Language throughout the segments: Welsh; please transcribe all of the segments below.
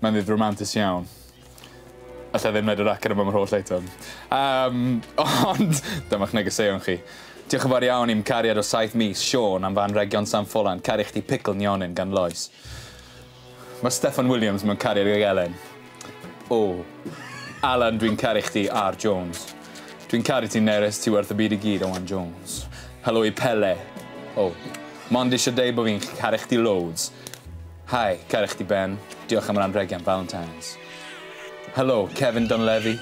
Mae'n ddydd romantus iawn. Alla ddim neud yr acen yma am yr holl eitem. Um, ond, dyma'ch negeseuon chi. Diolch yn fawr iawn i'm cariad o saith mis, Sean, am fan region San Ffolan, caru chdi pickle nionyn gan Lois. Mae Steffan Williams mewn cariad ag Elen. O. Alan, dwi'n caru chdi, R. Jones. Dwi'n caru ti, Nerys, ti werth y byd i gyd, Owen Jones. Helo i Pele. O. Mond eisiau deud bod fi'n caru chdi loads. Hi, caru chdi Ben, diolch am yr anrhegi am Valentine's. Helo, Kevin Donlevi,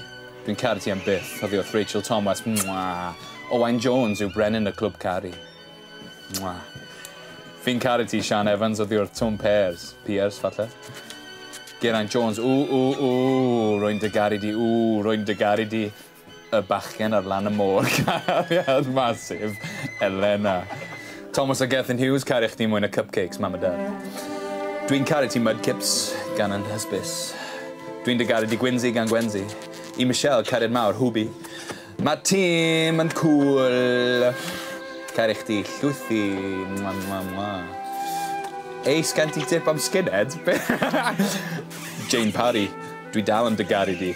dwi'n caru ti am byth, oddi wrth Rachel Thomas, mwaa. Owain Jones yw brenin y clwb caru. Mwaa. Fi'n caru ti, Sian Evans, oddi wrth Twm Pears, Pears, falle. Geraint Jones, ww, ww, ww, rwy'n dy garu di, ww, rwy'n dy garu di. Y bachgen ar lan y môr cariad massive Elena. Thomas a Gethin Hughes caru chdi mwy na cupcakes mam a dad. Dwi'n caru ti mudkips gan yn hysbys. Dwi'n dy garu di Gwynsi gan Gwensi. I Michelle cariad mawr Hwbi. Mae Tim yn cool. Caru chdi llwythi. Mwa mwa mwa. Ace gan ti tip am skinhead? Jane Parry, dwi dal yn dy garu di.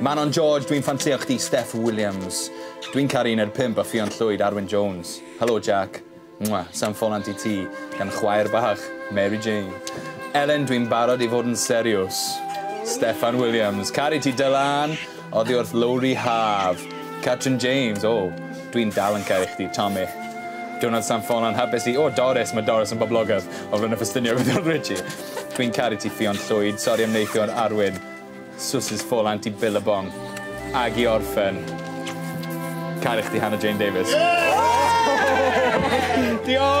Manon George dwi'n ffansïo chdi Steph Williams Dwi'n caru Uned Pump a Ffion Llwyd Arwyn Jones Helo Jack Mwah Sai'n ffolant i ti gan chwaer bach Mary Jane Elen dwi'n barod i fod yn seriws Steffan Williams Caru ti Dylan Oddi wrth Lowri Haf Catrin James O dwi'n dal yn caru chdi Tommy Diwrnod San Ffolan Hapus i O Doris Mae Doris yn boblogaidd o Flaenau Ffestiniog o Don Richie Dwi'n caru ti Ffion Llwyd Sori am neithiwr Arwyn Sws Folant i Billabong ag i orffen. Caru chdi Hannah Jane Davies. Diolch!